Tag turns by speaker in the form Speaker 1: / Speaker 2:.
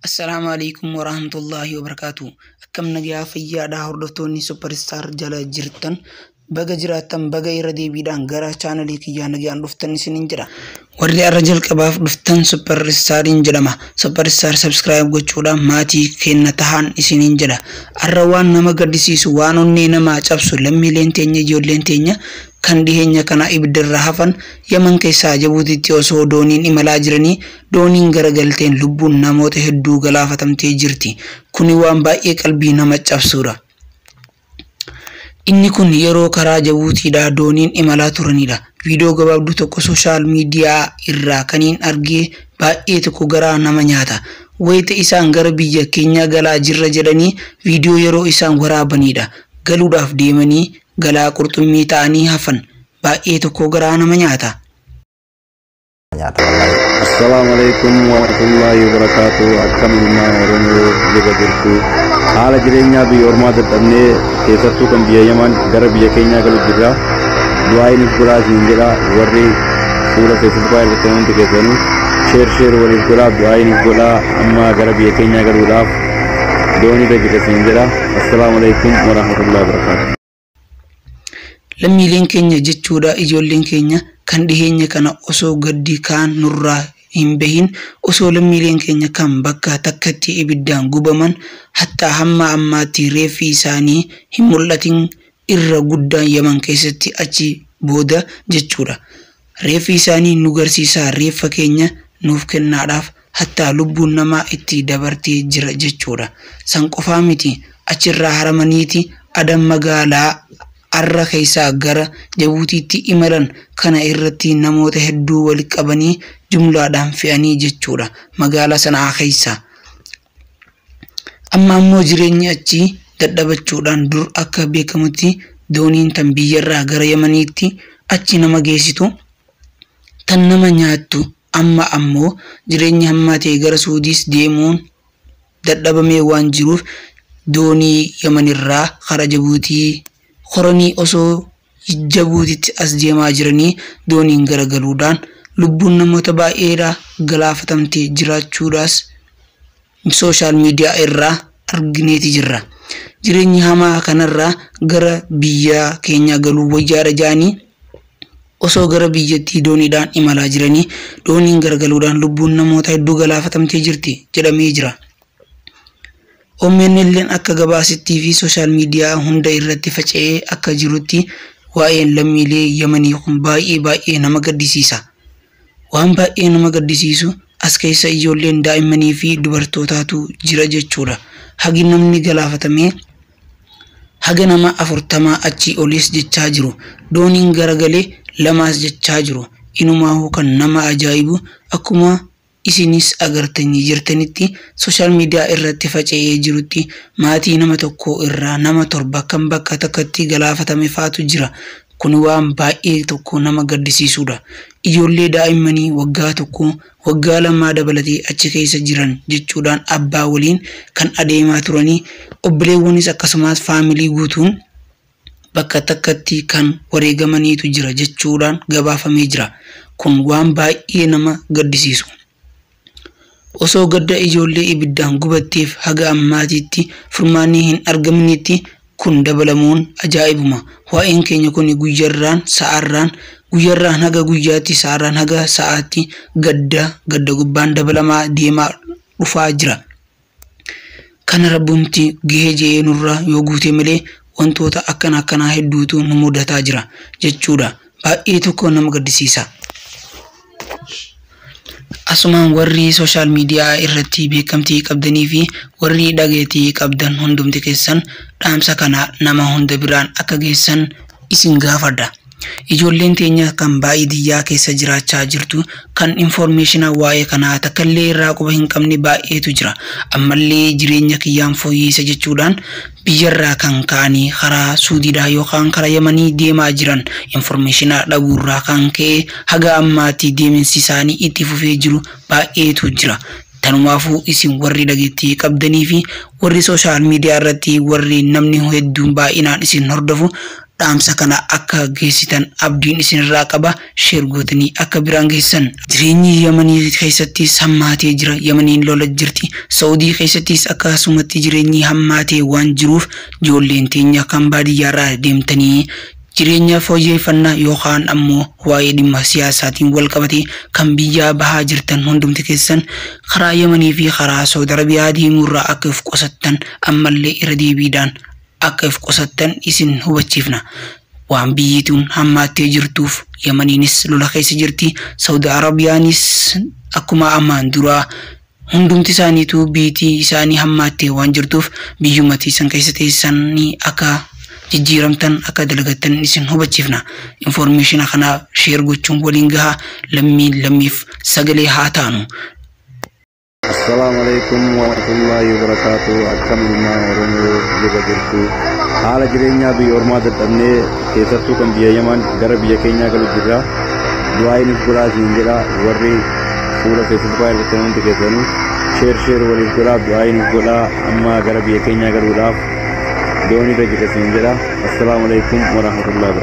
Speaker 1: Assalaamu alaikum warahmatullahi wabarakatuh akkam nagaa fayyaadhaa hordoftoonni superstar jala jirtan baga jiraattan baga irra deebiidhaan gara chaanalii kiyyaa nagaan dhuftan isinin jedha warri arra jalqabaaf dhuftan superstariin jedhama superstar subscribe gochuudhaan maatii keenna tahaan isinin jedha arra waan nama gaddisiisu waan onnee namaa cabsu lammiileen teenya ijoolleen teenya kan dhiheenya kana ibiddarra hafan yaman keessaa jabuutitti osoo dooniin imalaa jiranii Dooniin garagalteen lubbuun namoota hedduu galaafatamtee jirti. Kuni waan baay'ee qalbii nama cabsuudha. Inni kun yeroo karaa Jabuutiidhaa dooniin imalaa turaniidha. Viidiyoo gabaabduu tokko soshaal miidiyaa irraa kaniin argee baay'ee tokko garaa nama nyaata. Wayita isaan gara biyya keenyaa galaa jirra jedhanii viidiyoo yeroo isaan waraabaniidha. Galuudhaaf deemanii galaa qurxummii ta'anii hafan. Baay'ee tokko garaa nama nyaata. nyaata wallahi.
Speaker 2: Assalaamu alaikum warahmatullahi wabarakaatu akkam ilmaan oromoo jaba jirtu haala jireenyaa biyya ormaa dadhabnee keessattuu kan biyya yaman gara biyya keenyaa galu jirra du'aayi nuuf godhaa siin jedha warri fuula feesbuukaa irratti hundi keessanuu sheer sheer waliif godhaa du'aayi nuuf godhaa amma gara biyya keenyaa galuudhaaf doonii irra jirra siin jedha assalaamu alaikum warahmatullahi wabarakaatu Lammiileen
Speaker 1: keenya jechuudha ijoolleen keenya kan dhiheenya kana osoo gaddi kaan nurraa hin bahin osoo lammiileen keenya kan bakka takkatti ibiddaan gubaman hatta hamma ammaatti reeffi isaanii hin mul'atin irra guddaan Yaman keessatti achi booda jechuudha. Reeffi isaanii nu garsiisaa reeffa keenya nuuf kennaadhaaf hattaa lubbuun namaa itti dabartee jira jechuudha. San qofaa miti achirraa haramaniiti Adan magaalaa Arra keessaa gara Jabuutiitti imalan kana irratti namoota hedduu waliqabanii jumlaadhaan fe'anii jechuudha magaalaa Sana'aa keessaa. Amma ammoo jireenyi achii dadhabachuudhaan dur akka beekamutti dooniin tan biyyarraa gara Yamaniitti achi nama geessitu, tan nama nyaattu amma ammoo jireenyi hammaatee gara Suudiis deemuun dadhabamee waan jiruuf doonii Yamanirraa karaa Jabuutii koranii osoo Jjabuutitti as deemaa jiranii dooniin garagaluudhaan lubbuun namoota baay'eedhaa galaafatamtee jiraachuudhaas social media irraa argineeti jirra. Jireenyi hamaa kanarraa gara biyyaa keenyaa galuu wayyaadha ja'anii osoo gara biyyattii dooniidhaan imalaa jiranii dooniin garagaluudhaan lubbuun namoota hedduu galaafatamtee jirti jedhamee jira. OMN'n akka gabaasittii fi sooshaal miidiyaa hunda irratti faca'ee akka jirutti waa'een lammiilee Yamanii kun baay'ee baay'ee nama gaddisiisa. Waan baay'ee nama gaddisiisu as keessa ijoolleen daa'immanii fi dubartootaatu jira jechuudha. Hagi namni galaafatamee haga nama afurtamaa achii oliis jechaa jiru. Dooniin garagale lamaas jechaa jiru. Inumaahuu kan nama ajaa'ibu akkuma Isinis agartanii jirtanitti social media irratti faca'ee jirutti maatii nama tokkoo irraa nama torba kan bakka takkatti galaafatame faatu jira. Kun waan baay'ee tokko nama gaddisiisuudha. Ijoollee daa'immanii waggaa tokkoo, waggaa lamaa dabalatee achi keessa jiran jechuudhaan abbaa waliin kan adeemaa turanii obboleewwanis akkasumaas family guutuun bakka takkatti kan wareegamaniitu jira jechuudhaan gabaafamee jira. Kun waan baay'ee nama gaddisiisu. Osoo gadda ijoollee ibiddaan gubatteef haga ammaatitti furmaanni hin argaminitti kun dabalamuun ajaa'ibuma. Waa'een keenya kuni guyyarraan, sa'arraan, guyyarraan haga guyyaatti, sa'arraan haga sa'aatti gadda gadda gubbaan dabalamaa deemaa dhufaa jira. Kana Rabbumti gahe je'ee nurraa yoo guute malee wantoota akkana akkanaa hedduutu nu mudataa jira jechuudha. Baay'ee tokko nama gaddisiisa. Asumaan warri social media irratti beekamtii qabdanii fi warri dhageetii qabdan hundumti keessan dhaamsa kana nama hunda biraan akka geessan isin gaafadha. Ijoolleen teenya kan baaidiyyaa keessa jiraachaa jirtu kan informeeshina waa'ee kanaa takkallee irraa quba hin qabne baay'eetu jira. Ammallee jireenya kiyyaan fooyyeessa jechuudhaan biyyarraa kan ka'anii karaa Suudiidhaa yookaan kara Yamanii deemaa jiran informeeshina dhabuurraa kan ka'e haga ammaatti deeminsisaanii itti fufee jiru baay'eetu jira. Tanumaafuu isin warri dhageettii qabdanii fi warri social media irratti warri namni hedduun baay'inaan isin hordofu dhaamsa kana akka geessitan abdiin isinirraa qaba share gootanii akka biraan geessisan. Jireenyi Yamanii keessattis hammaatee jira. Yamaniin lola jirti. Sa'udii keessattis akkasumatti jireenyi hammaatee waan jiruuf joolleen teenya kan baadiyyaarraa deemtanii Jireenya fooyyeeffannaa yookaan ammoo waa'ee dhimma siyaasaatiin wal qabatee kan biyyaa bahaa jirtan hundumti keessan karaa Yamanii fi karaa Sawud Arabiyaa deemuurraa akka if qusattan ammallee irra deebiidhaan akka if qusattan isin hubachiifna. Waan biyyi tun hammaattee jirtuuf Yamaniinis lola keessa jirti, Sawud Arabiyaanis akkuma ammaan duraa Hundumti isaaniituu biyitii isaanii hammaattee waan jirtuuf biyyuma teessan keessa teessanii akka jijjiiramtan akka dalagattan isin hubachiifna. Information kana share gochuun waliin gahaa lammiin lammiif sagalee haa taanu. Assalaamu
Speaker 2: alaikum warahmatullahi wabarakatuh akkam ilmaan oromoo jaba jirtu haala jireenyaa biyya ormaa dadhabnee keessattuu kan biyya yaman gara biyya keenyaa galu jirra du'aayiin godhaa siin jedha warri fuula feesbuukaa irratti hundi keessanii sheer sheer waliif godhaa du'aa nuuf godhaa amma gara biyya keenyaa galuudhaaf doonii irra jirra siin jedha assalaamu alaikum warahmatullahi wabarakatuh